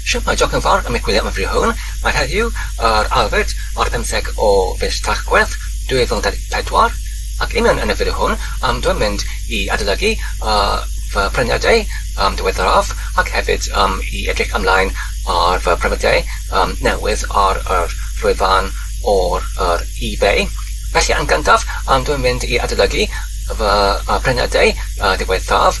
Siopau Joc yn Ffordd am y gwyliau amrywiol hwn mae heddiw yr Albert ar y pymtheg o fis Tachwedd 2024 ac union yn y fideo hwn am dw i'n mynd i adolygu fy mhremiadau diweddaraf ac hefyd i edrych ymlaen ar fy mhremiadau newydd ar yr llwyfan ar yr eBay. Felly yn gyntaf dw i'n mynd i adolygu fy mhremiadau diwethaf.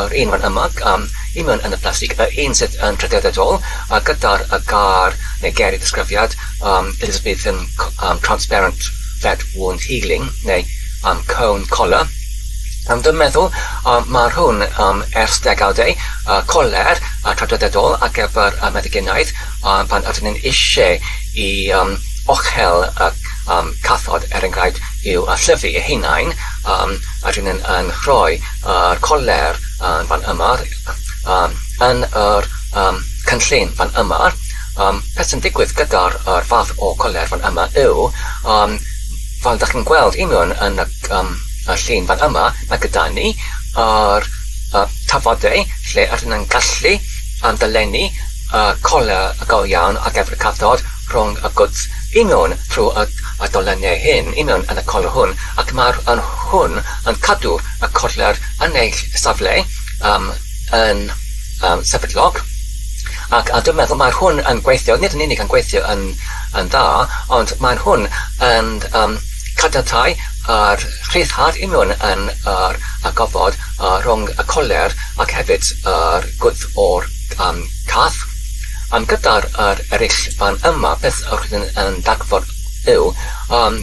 Yr un rhan yma gan union yn y plastig, yr un sydd yn draddodiadol a gyda'r gair neu ger y disgrifiad Elizabethan transparent fat wound healing neu cone collar. Yn fy meddwl, mae'r hwn ers degawdau, coler traddodiadol ar gyfer meddyginiaeth pan ydyn ni'n eisiau i ochel y cathod, er enghraifft, i'w llyfu eu hunain, ydyn nhw'n rhoi a'r coler yn fan yma, yn yr cynllun fan yma, beth sy'n digwydd gyda'r fath o coler fan yma yw, fel dach chi'n gweld union yn y llun fan yma, mae gyda ni yr tafodau lle rydyn ni'n gallu dolennu coler go iawn ar gyfer y cathod rhwng y gwddf union trwy y dolennau hyn, union yn y coler hwn, ac mae hwn yn cadw y cornel yn ei safle yym yn yym sefydlog ac a dwi'n meddwl mae'r hwn yn gweithio, nid yn unig yn gweithio yn yn dda ond mae'n hwn yn yym cadantau a'r rhyddhad union yn yr y gofod yy rhwng y cornel ac hefyd yr gwddf o'r yym cath yym gyda'r yr ereill fan yma beth rydyn yn dargfod yw yym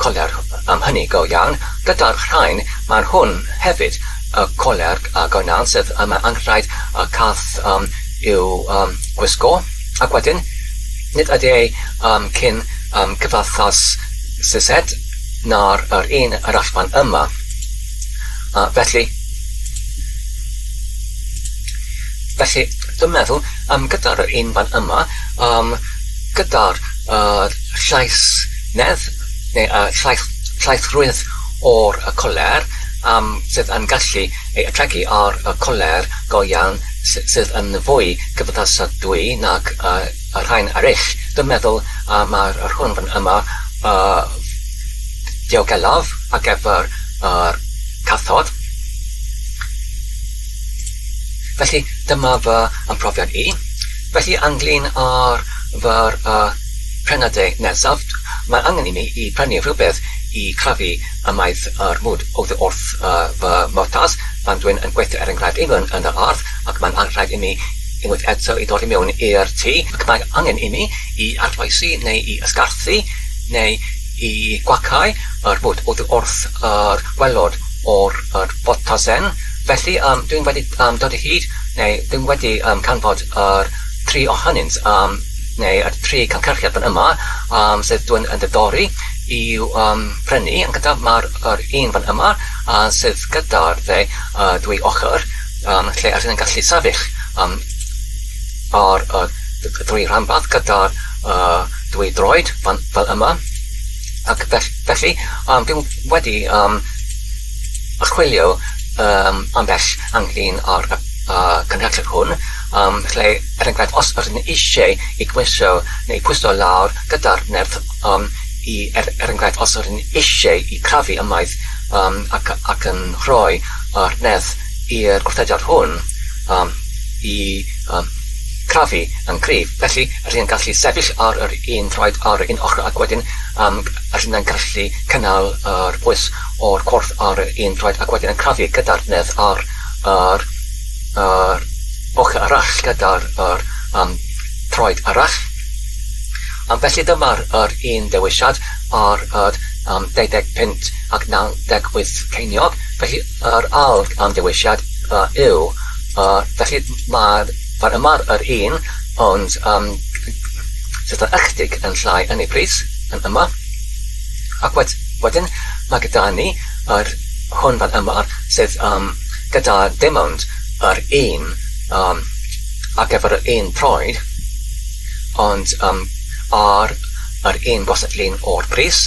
Colerg am hynny go iawn. Gyda'r rhain, mae'n hwn hefyd, y colerg a goenan sydd yma yn rhaid y cath um, i'w um, gwisgo. Ac wedyn, nid ydy ei um, cyn um, cyfathaus Sised na'r yr un yr allfan yma. Uh, felly, Felly, dwi'n meddwl, um, gyda'r un fan yma, um, gyda'r uh, llais Nid y llaethrwyd o'r coler am sydd yn gallu ei ategu ar y coler go iawn sydd yn fwy cymdeithasadwy nag y rhain eraill. Dwi'n meddwl y mae'r rhwn fan yma y diogelaf ar gyfer yr cathod. Felly dyma fy mhrofiad i. Felly ynglŷn â'r fyrr y Prena Dy Nesaf, Mae angen i mi i brynu rhywbeth i crafu ymaith yr mwd oddi wrth fy mhwrpas pan dwi'n yn gweithio er enghraifft i fyn yn yr ardd ac mae'n rhaid i mi unwaith eto i ddod i mewn i'r tŷ ac mae angen i mi i arloesi neu i ysgarthu neu i gwacáu yr mwd oddi wrth yr gwelod o'r yr ffotosen felly yym dwi'n wedi yym dod o hyd neu dwi'n wedi yym canfod yr tri ohonynt yym neu y tri cynhyrchiad fan yma yym sydd dwi yn diddori i'w yym prynu yn gyntaf ma'r yr un fan yma yy sydd gyda'r dde yy dwy ochr yym lle yr hyn yn gallu sefyll yym ar y d- y dwy rhanbarth gyda'r yy dwy droed fan fel yma ac fell- felly yym dwi'm wedi yym archwilio yym ambell angin ar y yy cynhyrchiad hwn. Ym mhle, er enghraifft, os rydyn eisiau ei gweiso neu'i pwyso lawr gyda'r nerth, ym i, er er enghraifft, os rydyn eisiau ei chrafu ymaith, ym ac ac yn rhoi yr nerth i'r gwrthedr hwn, ym i, ym chrafu yn gryf. Felly, rydyn yn gallu sefyll ar yr un traed ar un ochr ac wedyn, ym rydyn yn gallu cynnal yr pwys o'r corff ar yr un traed ac wedyn yn crafu gyda'r nerth ar yr yr ochr arall gyda'r yr um, troed arall. Um, felly dyma'r yr un dewisiad ar yr um, 25 ac 98 ceiniog. Felly yr ail um, dewisiad uh, yw, uh, felly mae'r fan yma'r yr un, ond um, sydd yn ychydig yn llai yn ei bris yn yma. Ac wedyn mae gyda ni yr hwn fan yma sydd um, gyda dim ond yr un yym ar gyfer yr un troed ond yym ar yr un gwasad lun o'r bris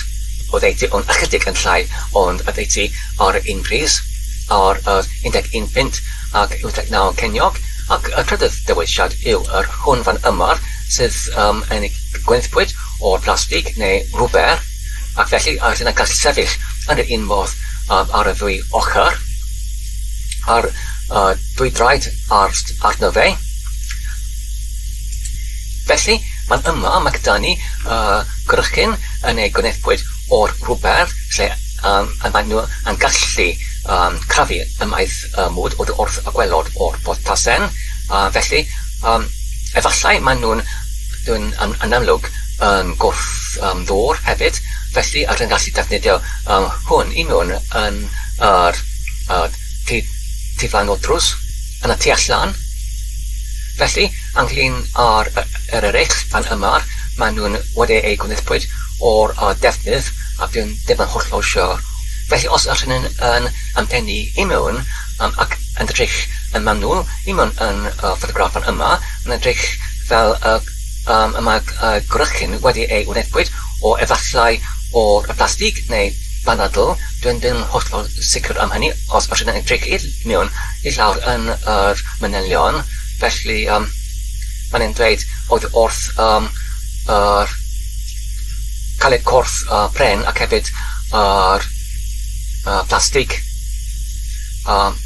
oddeutu ond ychydig yn llai ond oddeutu ar yr un bris ar yr 11 punt ac 89 ceiniog ac y trydydd dewisiad yw yr hwn fan yma sydd yym yn gwenithpwyd o'r plastig neu rwber. Ac felly, a ydyn yn gallu sefyll yn yr un modd um, ar y ddwy ochr, a'r uh, dwy draed ar, arno fe. Felly, mae'n yma, mae gyda ni uh, grychyn yn ei gwnefbwyd o'r rhywbeth lle um, a maen nhw yn gallu um, crafu ymaith uh, mwd o'r wrth y gwelod o'r botasen. Uh, felly, um, efallai maen nhw'n yn, yn, yn amlwg yn gwrth-ddwr hefyd, felly rydyn ni'n gallu defnyddio hwn i mewn yn yr tu flaen o'r drws, yn y tu allan. Felly, ynglyn â'r yr eraill fan yma, maen nhw'n wedi eu gwnaethpwyd o'r defnydd a bydd ddim yn hollol siwr. Felly, os rydyn ni'n yn yn pennu i mewn ac yn edrych yn manwl i mewn yn y ffotograff fan yma, mae'n edrych fel y Pam y mae gwrychyn wedi ei wneud o efallai o blastig neu banadl, dw i ddim yn hollol sicr am hynny, os allwn ni edrych i mewn i lawr yn yr manylion, felly yym mae'n e'n dweud oedd wrth yym yr caled corff y pren ac hefyd yr yy plastig yym.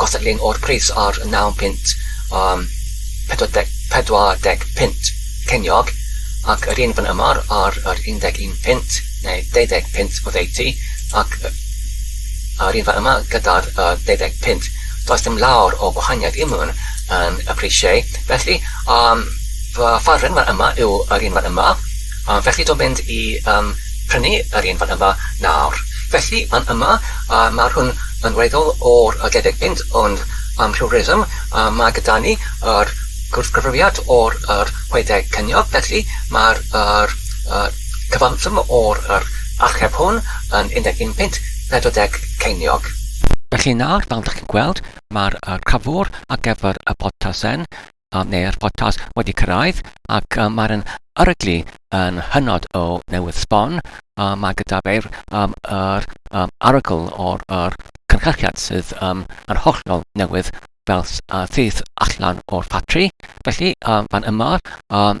gosod lun o'r pris ar y naw punt am pedwar deg pedwar deg punt ceiniog ac yr un fan ymar ar yr un deg un punt neu deuddeg punt oddeutu ac yy a'r un fan yma gyda'r yy deuddeg punt does dim lawr o gwahaniaeth i mewn yn y prisiau felly yym fy farn fan yma yw yr un fan yma a felly dwi'n mynd i yym prynu yr un fan yma nawr felly fan yma A ma hwn yn weddol o'r a debyg fynd ond am rhyw reswm a ma gyda ni yr gwrthgyfrifiad o'r yr chwedeg ceiniog felly ma'r yr y cyfanswm o'r yr acheb hwn yn 11.40 ceiniog. Felly nawr fel dach chi'n gweld ma'r y cryfwr ar gyfer y botasen um, neu'r podcast wedi cyrraedd ac um, mae'r yn aryglu yn hynod o newydd sbon. Um, mae gyda fe'r um, er, um, arogl o'r er, cynhyrchiad sydd um, yn hollol newydd fel uh, sydd allan o'r ffatri. Felly, um, fan yma, um,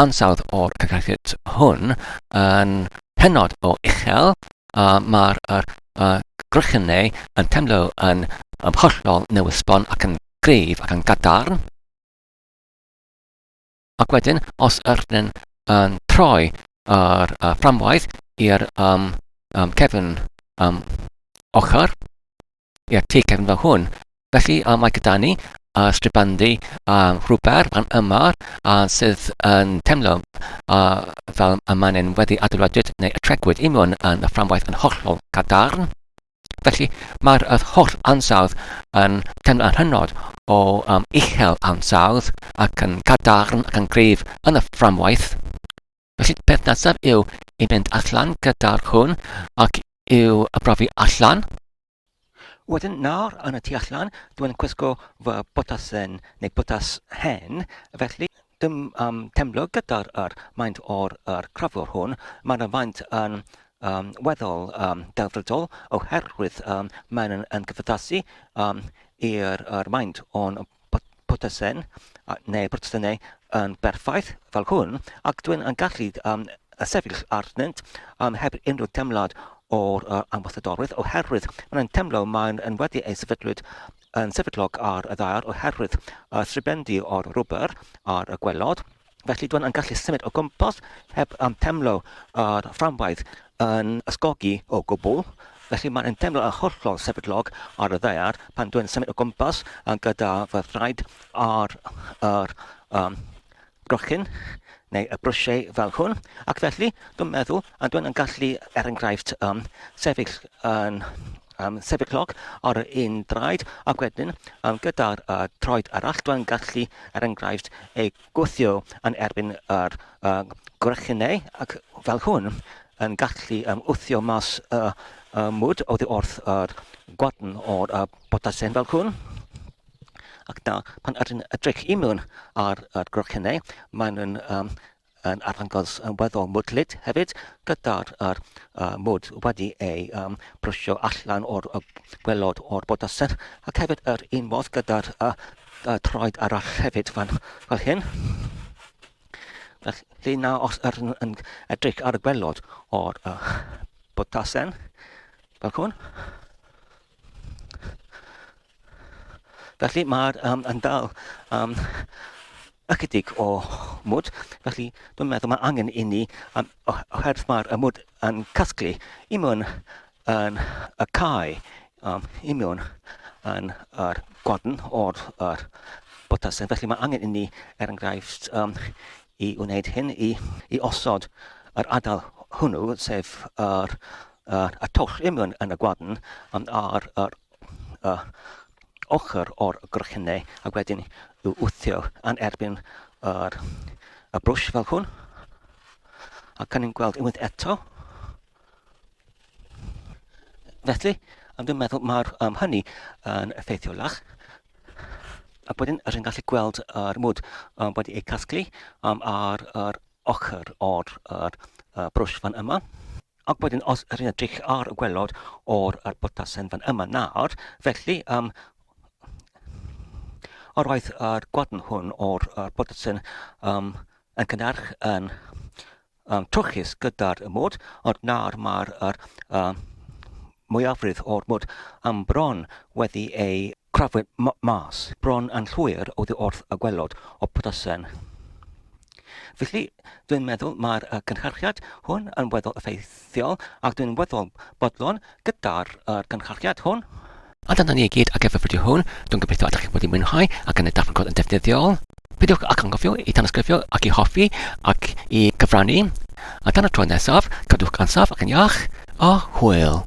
ansawdd o'r cyllid hwn yn hynod o uchel, a mae'r er, uh, grychynau yn teimlo yn um, hollol newysbon ac yn gryf ac yn gadarn. Ac wedyn, os ydyn yn troi yr uh, fframwaith i'r um, um, cefn um, ochr, Ie, ti cefn fel hwn. Felly, a mae gyda ni a stribandi a rhwber fan yma a sydd yn temlo a fel y mae'n yn wedi adeiladwyd neu y tregwyd i mewn yn y fframwaith yn hollol gadarn. Felly, mae'r yr holl ansawdd yn temlo yn hynod o um, uchel ansawdd ac yn gadarn ac yn gryf yn y fframwaith. Felly y peth nesaf yw i fynd allan gyda'r cwn ac i'w brofi allan. Wedyn nawr yn y tu allan, dwi'n cwisgo fy botasen neu botas hen, felly dim um, temlo gyda'r yr maint o'r yr crafwr hwn. Mae'n y faint yn um, weddol um, delfrydol oherwydd um, mae'n yn, yn gyfyddasu um, i'r maint o'n Protestant neu Protestannau yn berffaith fel hwn, ac dwi'n yn gallu um, sefyll arnynt um, heb unrhyw teimlad o'r uh, ambasadorwydd, oherwydd maen nhw'n teimlo maen nhw wedi eu sefydlwyd yn sefydlog ar y ddaear oherwydd uh, tribendi o'r rwber a'r gwelod, Felly dwi'n yn gallu symud o gwmpas heb um, temlo ar fframwaith yn ysgogi o gwbl. Felly mae'n temlo yn hollol sefydlog ar y ddear pan dwi'n symud o gwmpas yn gyda fy thraed ar yr um, brochyn neu y brwsiau fel hwn. Ac felly dwi'n meddwl a dwi'n yn gallu, er enghraifft, um, sefyll yn am sefydlog ar ein draed ac wedyn am gyda'r uh, troed arall, dwi'n gallu, er enghraifft, ei gwthio yn erbyn yr uh, gwrychynau ac fel hwn yn gallu um, wthio mas y uh, uh, mwd oddi wrth yr uh, gwadn o'r uh, botasen fel hwn. Ac da, pan ydyn edrych i mewn ar, ar gwrychynau, maen nhw'n um, yn arddangos yn weddol mwdlyd hefyd, gyda'r yr uh, mwd wedi ei um, brwsio allan o'r uh, gwelod o'r bodysedd, ac hefyd yr un modd gyda'r uh, uh, troed arall hefyd fan, fel hyn. Felly na os yr yn, yn edrych ar y gwelod o'r uh, bodasen, fel hwn, Felly mae'r um, yn dal um, ychydig o mwd, felly dwi'n meddwl mae angen i ni, um, oherwydd mae'r mwd yn casglu i mewn yn y cae, um, i mewn yn yr gwadn o'r er, botasau. Felly mae angen i ni, er enghraifft, um, i wneud hyn, i, i osod yr adael hwnnw, sef yr, yr, y twll i mewn yn y gwadn, um, a'r, yr y ochr o'r grochenni ac wedyn i'w wthio yn erbyn yr, y brwsh fel hwn. Ac yn ni'n gweld unwaith eto. Felly, am dwi'n meddwl mae'r um, hynny yn effeithiolach a wedyn rydyn gallu gweld yr mwd um, wedi ei casglu um, ar yr ochr o'r, yr, y brwsh fan yma. Ac wedyn os rwy'n edrych ar y gwelod o'r er botasen fan yma nawr, felly um, o roedd yr gwadn hwn o'r er botasen um, yn cynnarch yn um, trwchus gyda'r môd, ond nawr mae'r er, um, mwyafrif o'r bwyd am bron wedi ei chrafu mas, bron yn llwyr oddi wrth y gwaelod o Petersen. Felly, dwi'n meddwl mae'r cynhyrchiad hwn yn weddol effeithiol ac dwi'n weddol bodlon gyda'r cynhyrchiad hwn. A dyna ni i gyd ar gyfer y fideo hwn, dwi'n gobeithio y dach chi wedi mwynhau ac yn ei darganfod yn ddefnyddiol. Peidiwch ag anghofio i tanysgrifio ac i hoffi ac i gyfrannu. A tan y tro nesaf, cadwch ansaf ac yn iach, a hwyl!